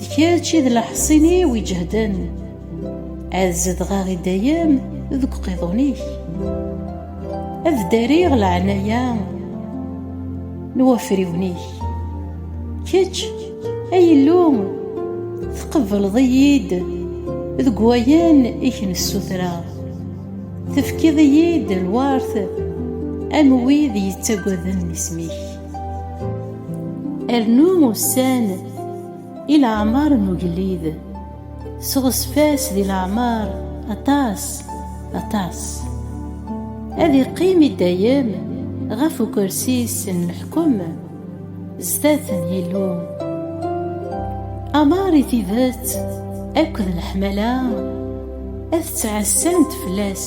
d kečč i d leḥṣin-iw iǧehden ad zedɣeɣ i dayem deg uqiḍun-ik ad ddariɣ leɛnaya n wafriwen-ik kečč ay Illu tqebbleḍ-iyi-d deg wayen i k-nessutreɣ tefkiḍ-iyi-d lwert am wid yettaggaden isem-ik Rnu ussan i leɛmer n ugellid, seɣzef-as di leɛmer aṭas, aṭas. Ad iqqim i dayem ɣef ukersi-s n leḥkem zdat n Yillu. Amer i tidet akked leḥmala ad ttɛassant fell-as.